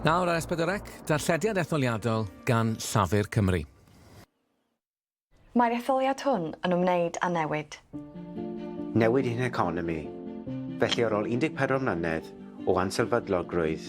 Nawr ar Esbydorec, darllediad etholiadol gan Llafur Cymru. Mae'r etholiad hwn yn ymwneud â newid. Newid i'n heconomi. Felly ar ôl 14 mlynedd o ansylfeddlogrwydd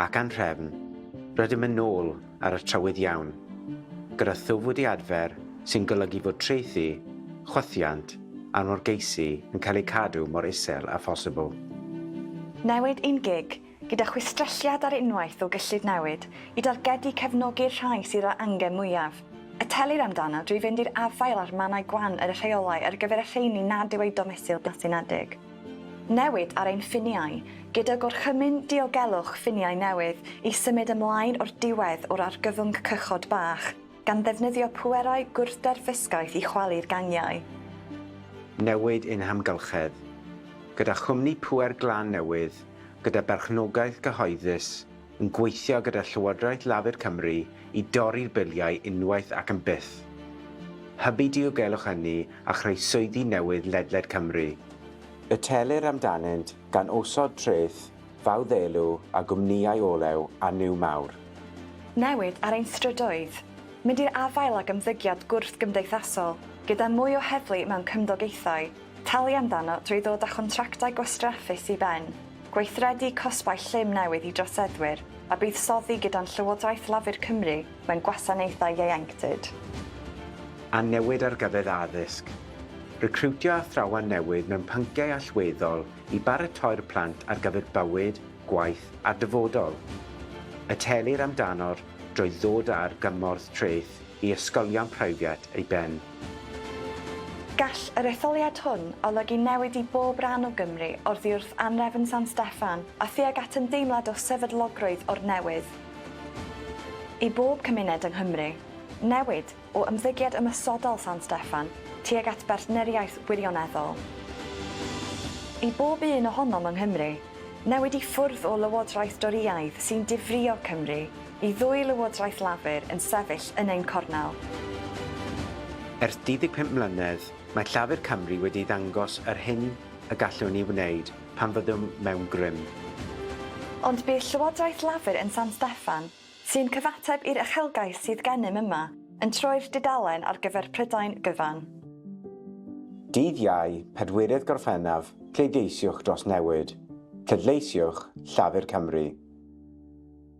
ac anhrefn, rydym yn ôl ar y trywydd iawn, gyda thwf wedi adfer sy'n golygu fod traethu, chwythiant a norgeisi yn cael eu cadw mor isel â phosibl. Newid ein gig, gyda chwistrelliad ar unwaith o gyllid newid, i dargedu cefnogi'r rhai sydd â'r angen mwyaf. Y telir amdano drwy fynd i'r afael â'r mannau gwan ar y rheolau ar gyfer y rheini nad yw eu domesil blasu nadeg. Newid ar ein ffiniau, gyda Gorchymyn Diogelwch Ffiniau newydd i symud ymlaen o'r diwedd o'r argyfwng cychod bach, gan ddefnyddio pwerau gwrthderfysgaeth i chwalu'r gangiau. Newid yn hamgylchedd, gyda chwmni pŵer glan newydd gyda berchnogaeth gyhoeddus yn gweithio gyda Llywodraeth Lafur Cymru i dorri'r biliau unwaith ac am byth, hybu diogelwch ynni a chreu swyddi newydd ledled Cymru. Y telir amdanynt gan osod treth fawddelw ar gwmnïau olew a nyw mawr. Newid ar ein strydoedd, mynd i'r afael ag ymddygiad gwrthgymdeithasol gyda mwy o heddlu mewn cymdogaethau, Talu amdano drwy ddod â chontractau gwastraffus i ben, gweithredu cosbau llym newydd i droseddwyr a buddsoddi gyda'n Llywodraeth Lafur Cymru mewn gwasanaethau ieuenctid. A newid argyfydd addysg. Recriwtio athrawon newydd mewn pynciau allweddol i baratoi'r plant ar gyfer bywyd, gwaith a'r dyfodol. Y telir amdano'r drwy ddod â'r gymorth treth i ysgolion preifiat ei ben. Gall yr etholiad hwn olygu newid i bob rhan o Gymru, oddi wrth anrefn San Steffan a thuag at ymdeimlad o sefydlogrwydd o'r newydd. I bob cymuned yng Nghymru, newid, o ymddygiad ymosodol San Steffan tuag at bartneriaeth wirioneddol. I bob un ohonom yng Nghymru, newid i ffwrdd o lywodraeth Dorïaidd sy'n difrïo Cymru Y ddwy Lywodraeth Lafur yn sefyll yn ein cornel. Ers 35 mlynedd, mae Llafur Cymru wedi ddangos yr hyn y gallwn ni wneud pan fyddwn mewn grym. Ond bydd Llywodraeth Lafur yn San Steffan, sy'n cyfateb i'r uchelgais sydd gennym yma, yn troi'r dudalen ar gyfer Prydain gyfan. Dydd Iau, pedwerydd Gorffennaf, pleidleisiwch dros newid. Pleidleisiwch Llafur Cymru.